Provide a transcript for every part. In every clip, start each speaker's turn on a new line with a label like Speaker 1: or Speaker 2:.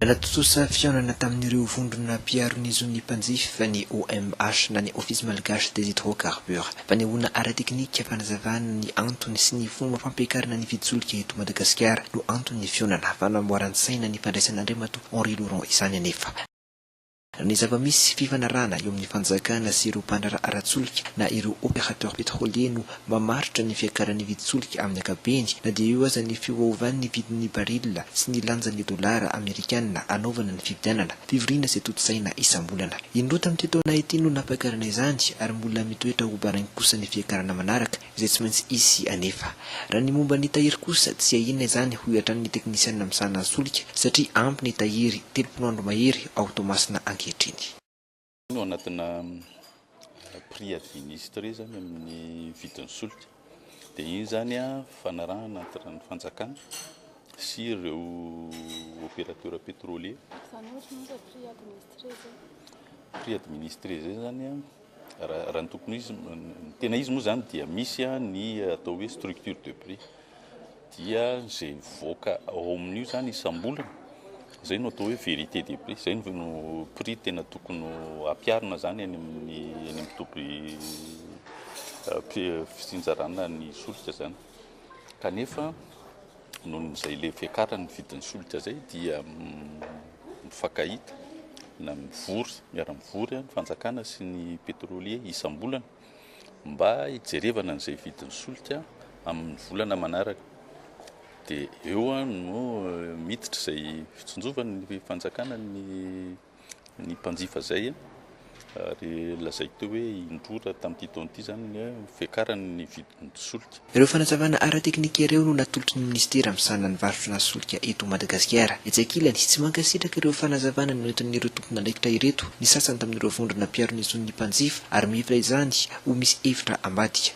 Speaker 1: Nahatontosa fihaonana tamin'ireo vondrona mpiaro ny zon'ny mpanjifa ny OMH na ny Office Malgache des Hydrocarbures. Fanehoana ara-teknika fanazavana ny antony sy ny fomba fampiakarana ny vidin-tsolika eto Madagasikara no anton'ny fihaonana. Fanamboaran-tsaina ny fandraisan'Andriamatoa Henri Laurent izany anefa. Ny zava-misy, fifanarahana eo amin'ny fanjakana sy ireo mpandraharaha ara-tsolika na ireo opérateurs pétroliers no mamaritra ny fiakaran'ny vidin-tsolika amin'ny ankapobeny, na dia eo aza ny fiovaovan'ny vidin'ny baril sy ny lanjan'ny dolara amerikana anaovana ny fividianana, fivoriana izay tontosaina isam-bolana. Indroa tamin'ity taona ity no nampakaranay izany, ary mbola mitoetra ho baraingo kosa ny fiakarana manaraka. izay tsy maintsy hisy anefa. Raha ny momba ny tahiry kosa, tsia inona izany hoy hatrany ny teknisianina misahana ny solika satria ampy ny tahiry telopolo andro mahery ao Toamasina ankehitriny. Ao
Speaker 2: anatina prix administre izany amin'ny vidin'ny solika dia iny izany fanarahana entre ny fanjakana sy ireo opérateur pétrolier. Izany ohatry ny hoe prix administre izay? Prix administre izay izany Raha ny tokony ho izy, ny tena izy moa izany dia misy ny atao hoe structure de prix, dia izay mivoaka ao amin'io izany isam-bolana, izay no atao hoe vérité des prix, izay no prix tena tokony ho ampiharina izany any amin'ny any amin'ny toby fitsinjarana ny solika izany, kanefa. Noho izay le fiakaran'ny vidin'ny solika izay dia mifankahita na mivory, miara-mivory ny fanjakana sy ny pétrolier isam-bolana mba hijerevana an'izay vidin'ny solika amin'ny volana manaraka. Dia eo no miditra izay fitsinjovana ny fanjakana ny ny mpanjifa izay ary lazaiko teo hoe indroa raha tamin'ity taona ity izany ny fiakaran' ny vidin' ny solika. Ireo fanazavana
Speaker 1: ara-teknika ireo no natolotry ny minisitera misahana ny varotra solika eto Madagasikara. Etsy ankilany, tsy mankasitraka ireo fanazavana noentin'ireo tompon'andraikitra ireto ny sasany tamin'ireo vondrona mpiaro ny zon'ny mpanjifa ary mihevitra izany ho misy hevitra ambadika.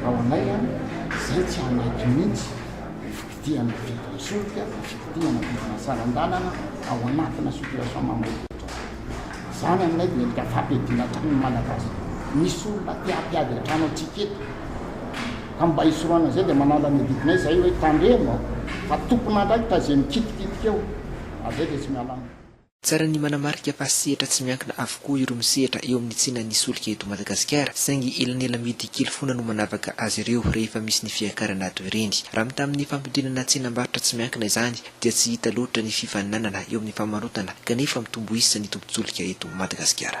Speaker 3: Fa ho anay an, izay tsy ao anaty mihitsy ny fikidihan'ny vidin'ny solika, ny fikidihan'ny vidin'ny saran-dalana ao anatina situation mamoa-bovoka izao. Izany aminay dia endrika fampihadiana hatrany ny Malagasy. Misy olona te hampiady hatrany antsika eto. Ka mba hisorohana izay dia manala ny adidinay izahay hoe tandremo fa tompon'andraikitra izay mikitikitika eo. Avy eo dia tsy miala aminy. Tsara ny
Speaker 1: manamarika fa sehatra tsy miankina avokoa ireo misehatra eo amin'ny tsenan'ny solika eto Madagasikara, saingy elanelamidy kely foana no manavaka azy ireo rehefa misy ny fiakarana toy ireny. Raha mitaha amin'ny fampidinana tsenam-barotra tsy miankina izany dia tsy hita loatra ny fifaninanana eo amin'ny famarotana kanefa mitombo isa ny tobin-tsolika eto Madagasikara.